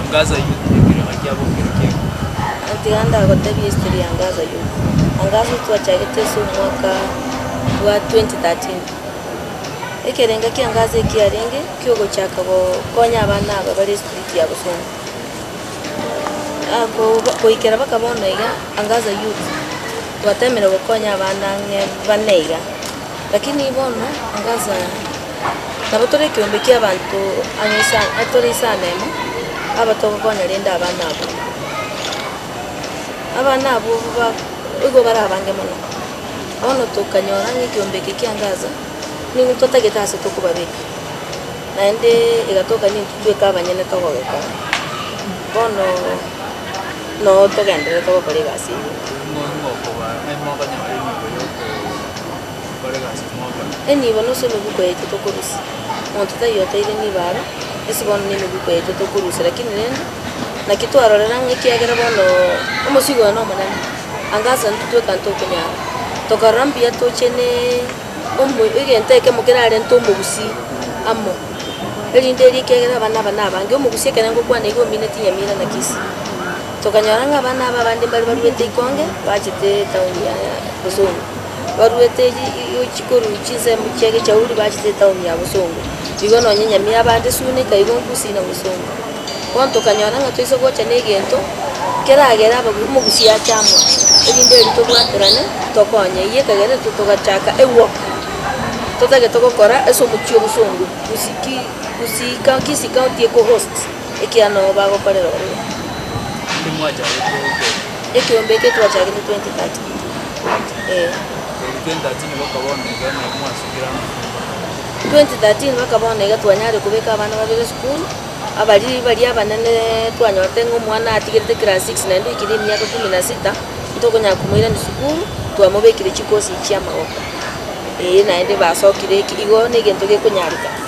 Angaza Youth ekerecha kiabo nkere ki'ekumi. Gotiga ndagotebie history ya Angaza Youth. Angaza Youth twachagete ase omwaka bwa 2013. Ekerengo kia Angaza eki kiarenge kiogochaka gokonya abana aba bare street ya Bosenyi. Goikera mpaka bono iga Angaza Youth twatemire gokonya abana ang'e bane iga. Lakini bono agachaya, nabo tore ekeombe ki'abanto ang'e ase aa, tore ase amemo aba togokonya rende abana abwo. Abana abwo ba igo bare abange mono, bono tokanyora ng'a ekeombe eke kia Gaza, nigo totagete ase tokobabeka, naende egatoka nintwe tweka abanyene togogekora. Bono nabo togendererete gokora egasi eyio. Eye nigo nusu emegwiko yaito tokorusia. Monto taiyo oteire nigo aro, ase bono nemegwiko yaito tokorusia lakini rende, naki twarorera ng'a ekiagera bono omosigo oye nomonene, anga ase intwe tweka ntokonyara, tokarora mbuya toche ne omo egento ekemo kerarente omogusii amo, erinde erio ekiagera abana aba nabange, omogusii ekero aye ngokwana iga omineti nyamira naki isi. Tokanyora ng'a abana aba abande mbare baruete ikonge bachete etaoni ya bosongo, baruete chi i- chikoruu chinsemo chia egechauri bachete etaoni ya bosongo. Igo nonye enyamia ya abande suna ikaigwa nkusi na bosongo. Bono tokanyora ng'a toise gocha na egento keragere abagu omogusi ache amo, erinde erio tobwaterane tokonye. Eyio ekagera intwe togachaka ewok, totagete gokora ase omochie o bosongo, gusi ki gusi ka kisi county ekohost. Ekiano bagokorera oyo. Onde mwachagete gokorera. Ekiombe eke twachagete 2013. Ee. Korwa 2013 bakaba onega naye mwasukire amakumba. 2013 bakaba onega twanyare kobeka abana babere esukuru, abari baria abanene twanyorete ng'a omwana atigerete class six naende oikire emiaka kumi na sita, ntokonyara komoirani sukuru, twamobekire chikosi echiamagoko. Ee naende basokire eki igo negento gekonyareka.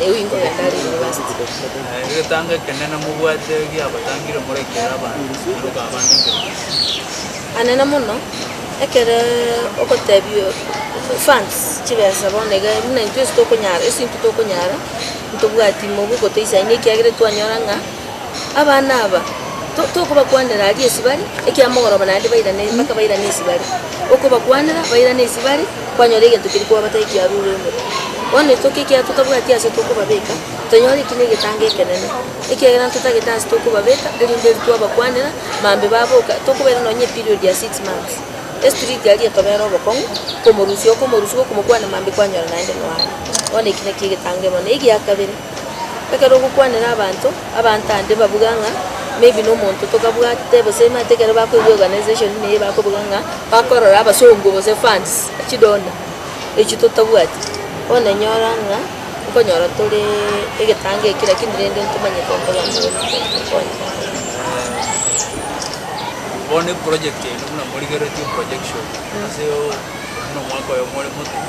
Erio ingo ogenda are university. Aye egetanga ekende namobwate giabatangire morekere abanto naroka abande nkerokia. Anene mono, ekero ogotebia funds chibesa bono iga buna intwe ase tokonyara ase intwe tokonyara ntobwati mogogotesia aye ekiagera twanyora ng'a. abana aba to- tokobakwanera aria esibare ekiagera mogoroba naende bairane mpaka bairane esibare. Okobakwanera bairane esibare, kwanyora egento keria kwabatebia kiarure ime. Bono iso ki ekiagera totabwati ase tokobabeka, tonyore eki negetango ekenene, ekiagera ntotagete ase tokobabeka, erinde eri twabakwanera, mambe baboka, tokobaira nonye eperiod ya six months. Estreet aria etobera obokong'u, komorusia okomorusia, gokomokwana mambe kwanyora naende nonya. Bono eki nakio egetango emo. Na egiakabere. Ekero ogokwanera abanto, abanto ande babuga ng'a maybe nomonto tokabwate gose mate ekero bakoigwa organisation ime eye bakobuga ng'a bakorora abasongo gose funds, chi donor, echio totabwati. Bono enyora ng'a nkonyora toree egetango ekio lakini rende ntomanyete nkoba mbore bono eproject eye buna morigeretie projection ase buna omwaka oyomo ore moto.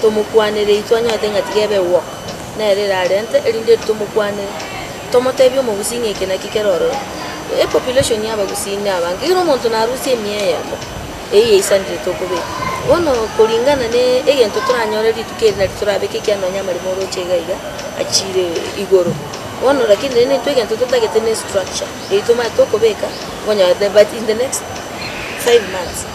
tomokwanere intwe anyorete ng'a tiga ebe gwoko, nere erarente erinde eri tomokwanere, tomotebie omogusii ng'a eke nakio kere ororo. Epopulation ya abagusii na abange, kera omonto narusie emia eyemo, eyio yaisanire tokobeka. Bono koringana ne egento toranyore rituko eri nari torabeke ekiagera nonye amaremo oroche iga iga achire igoro. Bono rakini rende intwe egento totagete ne estructure, eyio tomanyete okobeka, onyorete but in the next five months.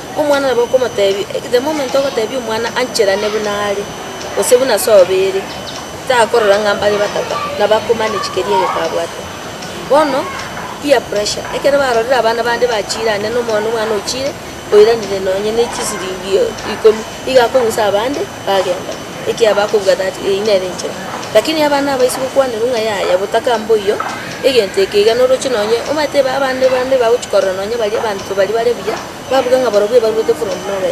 Omwana nabo okomotebi, the moment ogotebia omwana ancherane buna are, gose buna ase obeire, takorora ng'a mbare batato, nabo ako manage keria egeka abwate. Bono, peer pressure, ekero barorire abana bande bachiire ande na omwana omwana ochiire, oiranire nonye ne chisiringi ikomi, iga akong'usa abande bagenda, ekiagera bakobua that eyio nere enchera. Lakini abana aba ase gokwanerwa ng'a yaya botaka mboiyo, egento eke iga noroche nonye, omanyete abande bande bagochia korora nonye baria abanto baria bare buya. babuge ng'a barobwo ebaruete korwa ime nobe,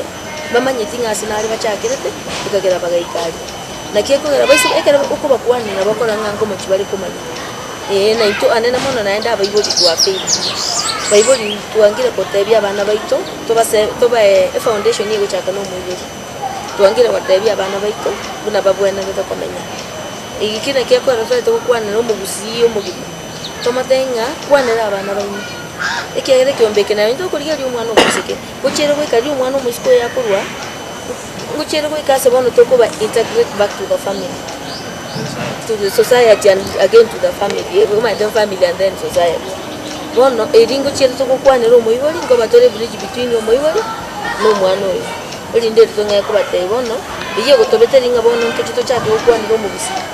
mbamanyeti ng'a ase nare bachakerete, ekagera bagaika aria. Naki ekogera baisobe, ekero okobakwanera nabo bakore ng'a nko mochie bare komanya. Ee, na intwe anene mono naende abaibori twakeirwe. Baibori twangire gotebia abana baito, tobase tobae efoundation egochaka na omoibori. Twangire gotebia abana baito, buna babwenerete komenya. Egi ki naki ekorerete gokwanera omogusii omogima. Tomotebi ng'a, Kwanera abana baino, ekiagera ekeombe eke nario ntokorigereria omwana omosike. Ngochiere goika riria omwana omosike oyo akorwa, ngochiere goika ase bono tokoba integrate back to the family, to the society and again to the family, omanyete family and then society. Bono erio ngochiere togokwanera omoibori, nkoba tore bridge between omoibori na omwana oyo, erinde eri tong'ai kobatebia bono, eyio egotobete ring'a bono ntoche tochake gokwanera omogusii.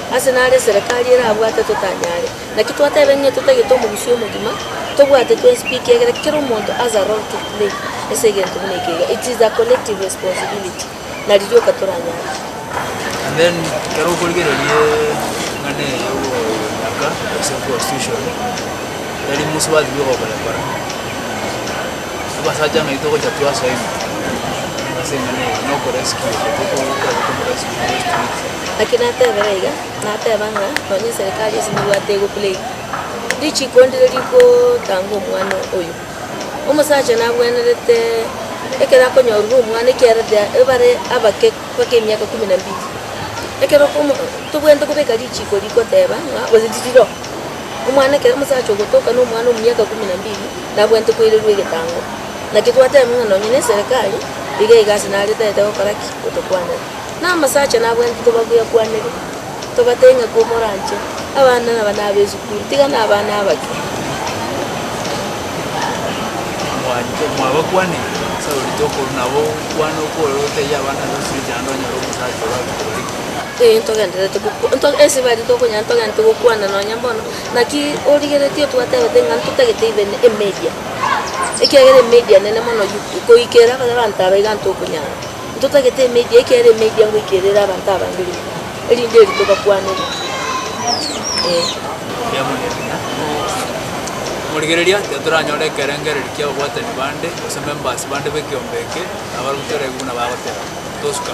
Ase naro eserekari erabwate totanyare. Naki twateba ng'a totagete omogusii omogima, tobwate twenspeak egere kera omonto has a role to play ase egento buna eke iga. It is a collective responsibility. Nari rioka toranyare. And then ekero okorigereria eng'ana eye y'ogochaka gose constitution, tari musubaati bweka okorekora. Abasacha ng'ai togocha twasoe ime ase eng'ana eye nokorescue obo tokogokorera tomorescue in those streets. Naki natebera iga, nateba ng'a nonye eserekari ase nibwate egopulei richiko ndire rigotanga omwana oyo. Omosacha nabwenerete ekero akonyorire omwana ekiagera ebare abake mpaka emiaka kumi na mbili. Ekero okomo tobwenerete kobeka richiko rigoteba ng'a gose ririro, omwana ekero omosacha ogotoka nomwana omiaka kumi na mbili. Nabwenerete koirerwa egetango. Naki twateba ng'a nonye neserekari iga iga ase nare tagete gokora ki? Gotokwanera. Na amasacha nabwenerete tobagwekwanere, tobatebie ng'a kwa moranche abana aba nabe esukuru tiga na abana abake. Mwanche mwabakwaneri, ase orite okorwa nabo okwane okwore otebie abana aba esukuru echi naende onyore omosacha orabekore ki? Ee, ntogendererete gokwa, nto, ase baria tokonyara ntogendererete gokwana nonye mbono. Naki origeretie otwatebete ng'a ntotagete even emedia, ekiagera emedia nene mono YouTube, koikera bare abanto aba iga ntokonyara. Ntotagete emedia ekiagera emedia ngoikera ere abanto abange riko, erinde erito bakwanere eh. Mbuya mono ebiya. Aye. Omorigereria, tiga toranyore ekerengererio kia ababwatani bande, gose members bande b'ekeombe eke, abarabwo toregwe buna bagoteba. Tosuka.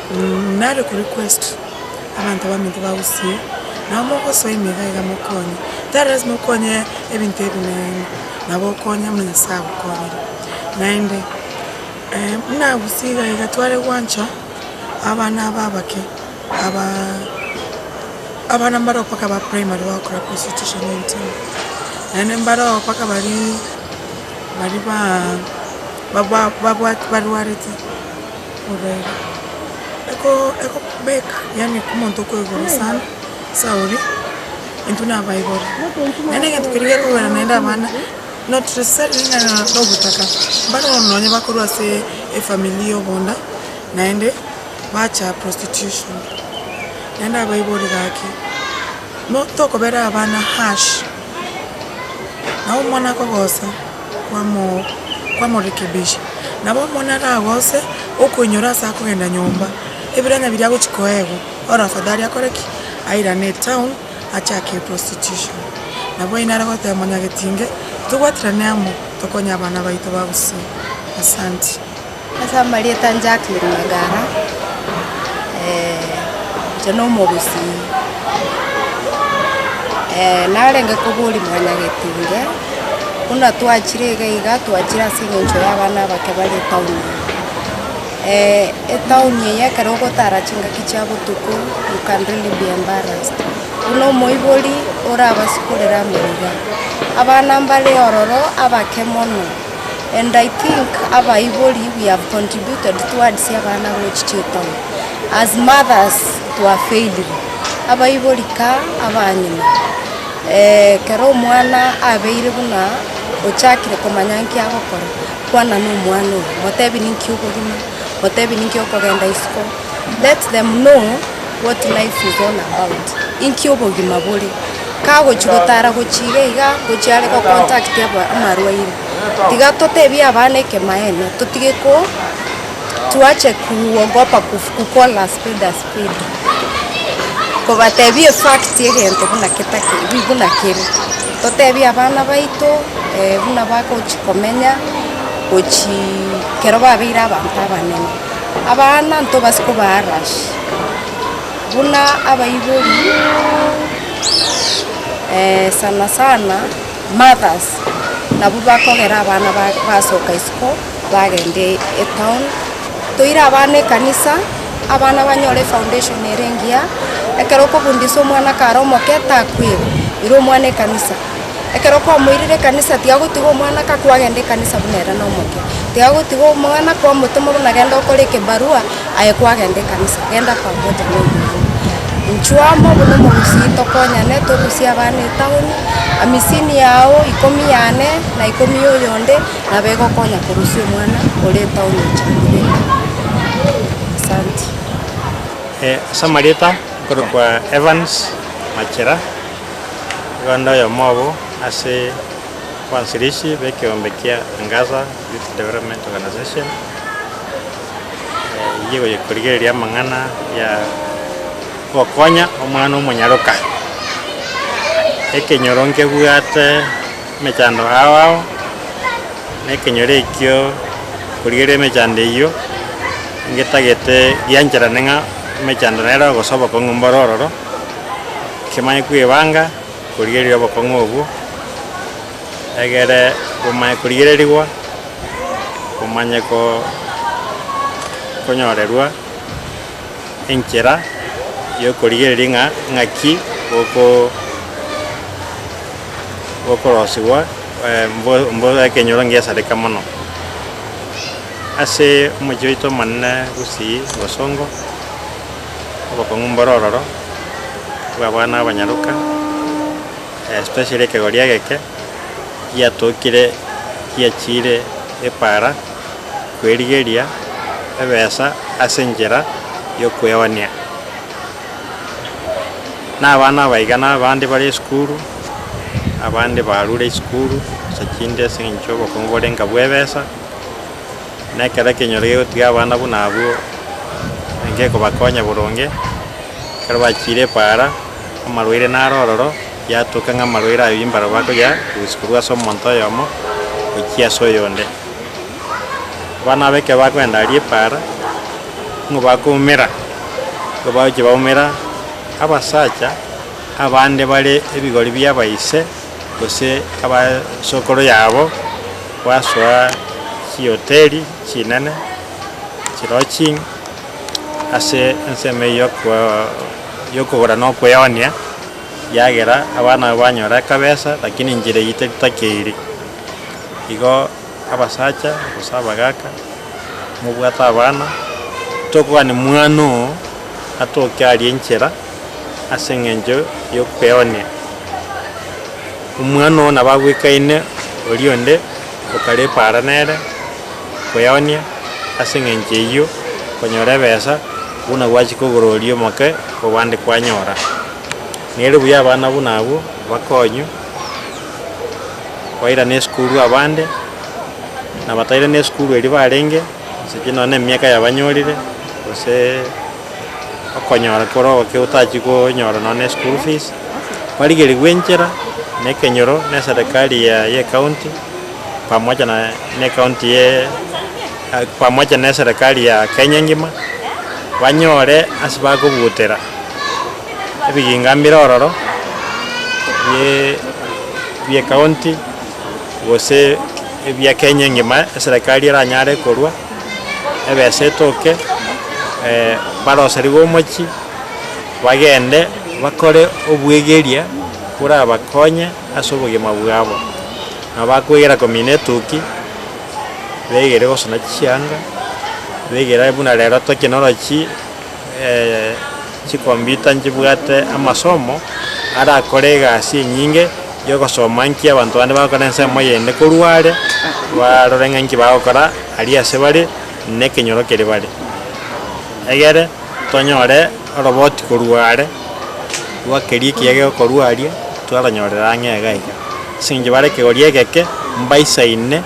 Nare ko request abanto baminto bagusie nabo mogosoa emega iga mokonye tari lasima okonye ebinto ebinene nabo okonye buna nyasaye agokonyire naende buna agusie iga iga tware gwancha abana aba abake aba abana mbareo mpaka aba primary bagokora constitution entry naende mbareo mpaka baria baria ba babwate barwarete. obeire eko ekobeka yaani omonto okoigoro sana ase aoria intwe nabaibori naende egento keria gekogera naende abana not necessarily ng'a na ogotaka mbare bono nonya bakorwa ase efamiri ya obonda naende bacha prostitution naende abaibori gaki no tokobera abana harsh nabo omwana akogosa. kwamorekebisha. Nabo omwana aragose okoinyora ase akogenda nyomba, ebiranya biria agochia koegwa, ore afadhali akore ki? Airane etown achake eprostitution. Nabo oyio nare goteba mwanyagetinge tobwaterane amo tokonye abana baito ba gusii. Asanti. Ase amarieta a Jacqueline Magara, inche na omogusii, narenge koboria mwana getinge, buna twachire iga iga twachire ase eng'encho ya abana abake bare etown ime. etown eye ekero ogotara chingaki chia botuko you can really be embarrassed, buna omoibori orabasikorere amo iga, abana mbare ororo abake mono. and I think abaibori we have contributed towards abana abagochi chitomo as mothers to have failed them, abaibori ka abanyene ekero omwana abeire buna ochakire komanya nki agokora kwana na omwana oye motebi ninki okogima, motebi ninki okogenda isiko. Let them know what life is all about, inki obogima bore, kagochia gotara gochia iga iga gochia are go contact aba- amarwaire. Tiga totebie abana ekemaene, totige ko tuache kuogopa kuf- kukola spade a spade, kobatebia efact egento buna ketake buna kere, totebie abana baito buna bagochia komenya gochia kero babeire abanto abanene. Abana ntobase kobaarash, buna abaibori sana sana mothers nabwo bakogera abana ba- basoka isiko bagenda e- etown. Toire abana ekanisa, abana banyore efoundation ere engiya, ekero okofundisa omwana kare omoke takwigwa, ira omwana ekanisa. Ekero kwamoirire ekanisa tigagotiga omwana akakwa agende ekanisa buna ere nomoke. Tigagotiga omwana kwamotoma buna genda okore ekebarua aye kwagenda ekanisa, genda kwamocha buna omoirire. Inchuo amo buna omogusii tokonyane togusie abana etaoni, amisini yao, ikomi yane na ikomi ya oyonde nabo egokonya korusia omwana ore etaoni oche moirire. Asanti. Ase amarieta nkorokwa Evans Machera. Oganda oyomo obo ase abansirishi b'ekeombe kia Angaza Youth Development Organization eyie goyekorigereria amang'ana ya gokonya omwana omonyaroka. Ekenyoro nkebwate emechando ao ao, na ekenyoro ekio korigereria emechando eyio ngetagete giancherane ng'a emechando nere ogosoboka ong'e mboro ororo. Kimanye kwebanga korigereria obokong'u obwo, egere bomanye korigererigwa, bomanye konyorerwa enchera y'okorigereria ng'a ng'aki gokorosigwa mbore ekenyoro ngesareka mono. Ase omochie oito omonene gosii bosongo. obokong'u mbore ororo, twabana abanyaroka, especially ekegori egeke giatokire giachiire epaara kwerigeria ebesa ase enchera y'okweonia na abana abaiga na abande bare esukuru, abande barure esukuru gose chinde ase eng'encho y'obokong'u borenge abwo ebesa. Na ekero ekenyoro gegotiga abana buna abwo, ngekobakonya boronge. Ekero bachiire epaara, amarwaire naro ororo, yatoka ng'a amarwaire ayio imbarabwo bakoyarusia korwa ase omonto oyomo gochia ase oyonde. Abana aba ekero bakoenda aria epaara, nigo bakoumera, ekero bagochia baumera, abasacha abande bare ebigori bi'abaise. gose abasokoro yabo gwasoa chihoteri chinene chilodging ase ensemo eyio yokogora na okweonia ekiagera abana abo banyora akabesa lakini enchera eyio tetakeiri igo. abasacha gose abagaka, mobwate abana, tokogani mwana oo atoke aria enchera ase engencho y'okweenea. Omwana oo nabo agwekaine oria onde okarepa ara nere okweonia, ase engencho eyio okonyora ebesa buna gwachia kogora oria omoke obande kwanyora. Nere buya abana buna abwo bakonywe. bairana esukuru abande, na batairana esukuru erio barenge, gose pi nonya na emiaka yabanyorire, gose okonyora kore ogoke otachi konyora nonya na eschool fees, barigerigwe enchera na ekenyoro na eserekari ya ya ekaunti pamoja na na ekaunti ye pamoja na eserekari ya Kenya engima, banyore ase bakogutera. ebiginga mbire ororo bie bie county gose ebia Kenya engima eserekari eranyare korwa ebesa etoke barosarigwe omochie bagende bakore obwegeria borabakonye ase obogima bwabo. Nabo bakwegera komina etuki, begere gosona chisianga, begere buna rero technology. chikompyuta nchibwate amasomo arakore egasi enyinge y'ogosoma nki abanto bande bagokora ensemo eyende korwa are, barore ng'a nki bagokora aria ase bare, na ekenyoro kere bare. Egere tonyore oroboti korwa are, rwa keria ekiya gegokorwa aria, twaranyorera ang'e iga iga. Ase eng'encho bare ekegori egeke, mbaisaine.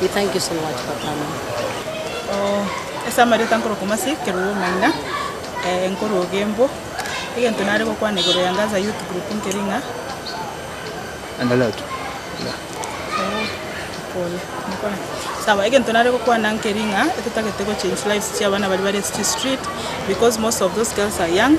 We thank you so much for coming. Oh, ase amarieta nkorwa Kumasi, Keruo Maina, eh, nkorwa Ogembo. Egento nare gokwana igoro ya Ngaza Youth Group nkeri ng'a, Endelea tu. Endelea. Oh, pole. Mokore. Sawa, egento nare gokwana nkeri ng'a, etotagete gochange lives chia abana baria bare ase chistreet, because most of those girls are young,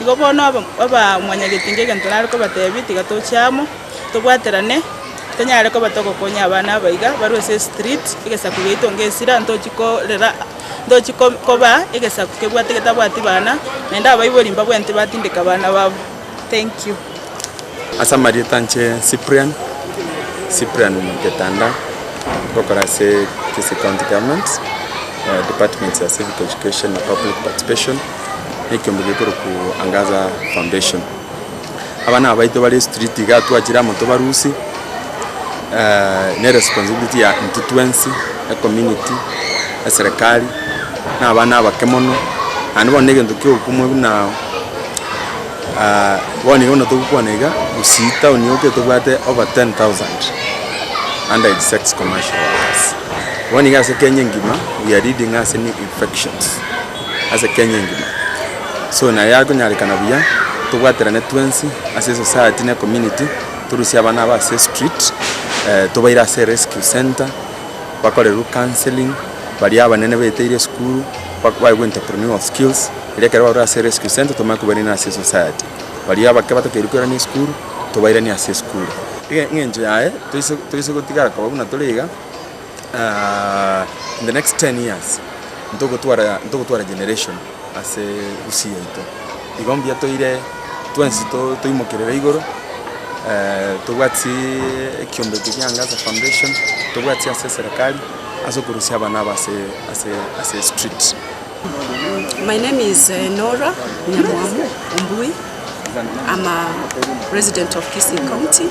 Igo bono aba abamwanyagetinga egento nare kobatebie, tiga toche amo, tobwaterane, tonyare koba togokonya abana aba iga barwe ase estreet, egesaku giaito nge esira, ntochi korera, ntochi ko- koba egesaku kebwate getabwati bana, naende abaibori mbabwenerete batindeke abana babo. Thank you. Ase amarieta inche Cyprian, Cyprian Getanda, ngokora ase Kisii County Government, department ya Civic Education na Public Participation. ekiombe gekorokwa Angaza Foundation. Aba nabaito bare street igaa twachire amo tobarusie ne responsibility ya intwe twensi, ecommunity, eserekari, na abana abake mono, naende bono negento kia obokumwe buna bono iga buna togokwana iga gusii town yoka tobwate over ten thousand under age sex commercial workers. Bono iga ase Kenya engima we are leading ase infections. ase Kenya engima. So naye akonyarekana buya, tobwaterane twensi ase esociety na ecommunity, torusie abana aba ase estreet, tobaire ase erescue centre, bakorerwe counselling, baria abanene baeteire esukuru, baegwe entrepreneual skills, erio ekero barure ase erescue centre tomanye kobairania ase esociety. Baria abake batakeirwe koirania esukuru, tobairanie ase esukuru. Engencho yaye, toise toise gotigara koba buna tore iga. in the next ten years ntogotwara ntogotwara generation ase gusii yaito. Igo mbuya toire twensi to toimokerere igoro tobwate siii ekiombe ekio kiaange ase foundation, tobwate sia ase serekari ase okorusia abana aba ase ase ase street. My name is Norah Nyamwamu Ombui, I'm a resident of Kisii County.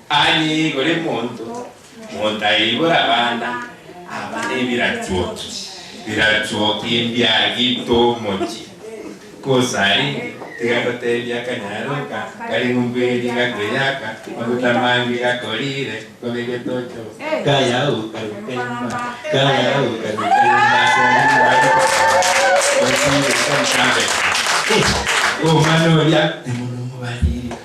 Aye igure monto, monto aye igure abana aba nebirachuoki, birachuoki mbiagite omochie. Kosarenge, tiga ngotebie akanyaro aka, kare ng'umberie gakweri aka, maguta mange gakorire, ngobe getocho, kaya okarwika imba, kaya okarwika imba ase omochie, gochia omochie omosambe. Omwana oria, temonomobariri,